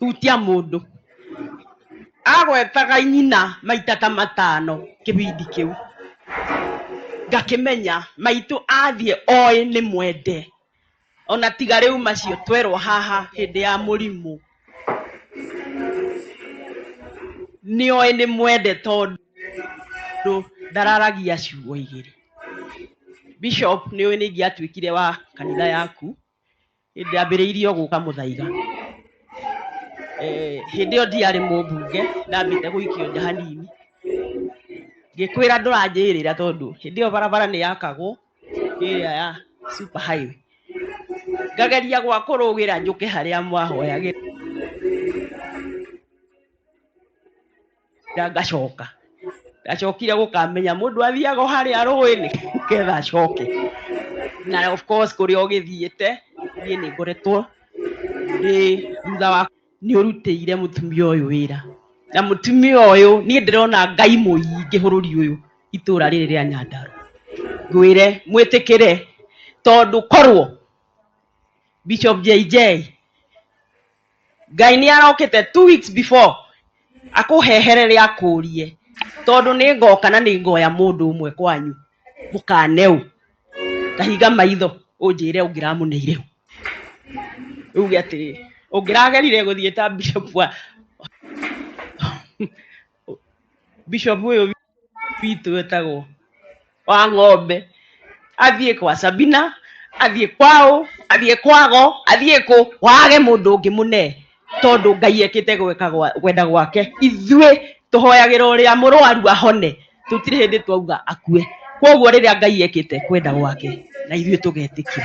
hutia mundu agwetaga nyina maita ta matano kibindi kiu ngakimenya maitu athie oe ni mwende ona tiga riu macio twerwo haha hindi ya murimu ni oe ni mwende tondu ndararagia ciugo igiri bishop ni oe ni ngiatuikire wa kanitha yaku hĩndĩ ambĩrĩirie o gũka mũthaiga Eh, hĩndĩ ĩyo ndiarĩ mũmbunge ndambĩte gũikio nja hanini ngĩkwĩra ndũranjĩrĩra tondũ hĩndĩ ĩyo barabara nĩ yakagwo ĩrĩa ya super highway ngageria gwa kũrũgĩra njũke harĩa mwahoyagĩra Nga- ngacoka ndacokire gũkamenya mũndũ athiaga o harĩa rũĩ-inĩ nĩgetha acoke na of course kũrĩa ũgĩthiĩte niĩ nĩ ngoretwo ndĩ thutha wa nĩ ũrutĩire mũtumia ũyũ wĩra na mũtumia ũyũ niĩ ndĩrona ngai mũingĩ bũrũri ũyũ itũra rĩrĩ rĩa nyandarũa ngwĩre mwĩtĩkĩre tondũ korwo bishop jj Ngai nĩ arokĩte two weeks before akũheherere akũrie tondũ nĩ ngoka na nĩ ngoya mũndũ ũmwe kwanyu mũkane ũ kahinga maitho ũnjĩre ũngĩramũneire ũ rĩu uge atĩrĩrĩ ũngĩragerire gũthiĩ ta bishop wa bishop ũyũ witũ wetagwo wa ng'ombe athiĩ kwa sabina athiĩ kwao athiĩ kwago athiĩ kũ wage mũndũ ũngĩ mũne tondũ ngai ekĩte gweka gwa- gwenda gwake ithuĩ tũhoyagĩra ũrĩa mũrwaru ahone tũtirĩ hĩndĩ twauga akue kwoguo rĩrĩa ngai ekĩte kwenda gwake na ithuĩ tũgetĩkia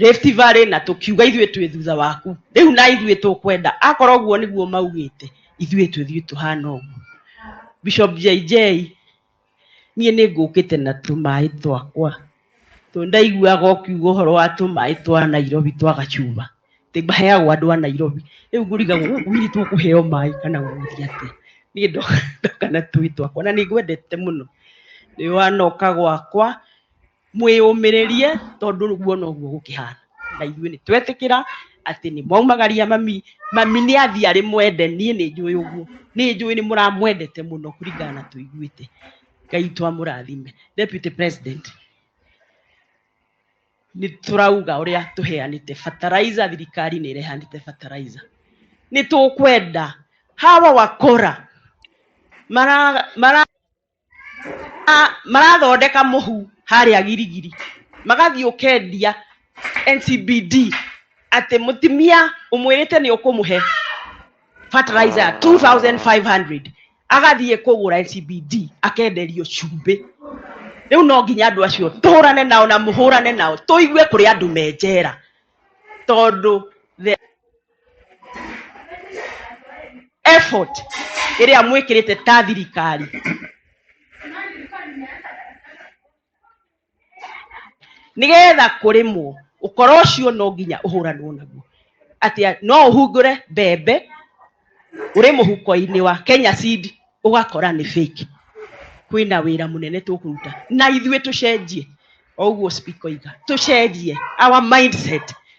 Rift Valley na tũkiuga ithuĩ twĩ thutha waku rĩu na ithuĩ tũkwenda akorwo ũguo nĩguo maugĩte ithuĩ tũthiĩ tũhana ũguo Bishop JJ niĩ nĩ ngũkĩte na tũmaĩ twakwa tondũ ndaiguaga ũkiuga ũhoro wa tũmaĩ twa Nairobi twa gacuba atĩ maheagwo andũ a Nairobi rĩu ngũrigagwo gũkũ hihi tũkũheo maĩ kana gũgũthiĩ atĩa niĩ ndoka ndoka na tũĩ twakwa na nĩ ngwendete mũno nĩ wanoka gwakwa mwĩyũmĩrĩrie tondũ ũguo noguo gũkĩhana na ithuĩ nĩ twetĩkĩra atĩ nĩ mwaumagaria mami mami nĩ athiĩ arĩ mwende niĩ nĩ njũĩ ũguo nĩ njũĩ nĩ mũramwendete mũno kũringana na tũiguĩte ngai twamũrathime deputy president nĩ tũrauga ũrĩa tũheanĩte fertilizer thirikari nĩ ĩrehanĩte fertilizer nĩ tũkwenda hawa wakora mara mara Ah, marathondeka muhu haria girigiri magathii ukendia ncbd ati mutimia umwirite ni ukumuhe fertilizer 2500 agathii kugura ncbd akenderio cumbi riu no nginya andu acio tuhurane nao na muhurane nao tuigue kuri andu me njera tondu the effort ĩrĩa mwĩkĩrĩte ta thirikari nĩgetha kũrĩmwo ũkora ũcio no nginya ũhũranwo naguo atĩa no ũhungũre mbembe ũrĩ mũhuko-inĩ wa kenya seed ũgakora nĩ fake kwĩna wĩra mũnene tũkũruta na ithuĩ tũcenjie o ũguo speaker oiga tũcenjie our mindset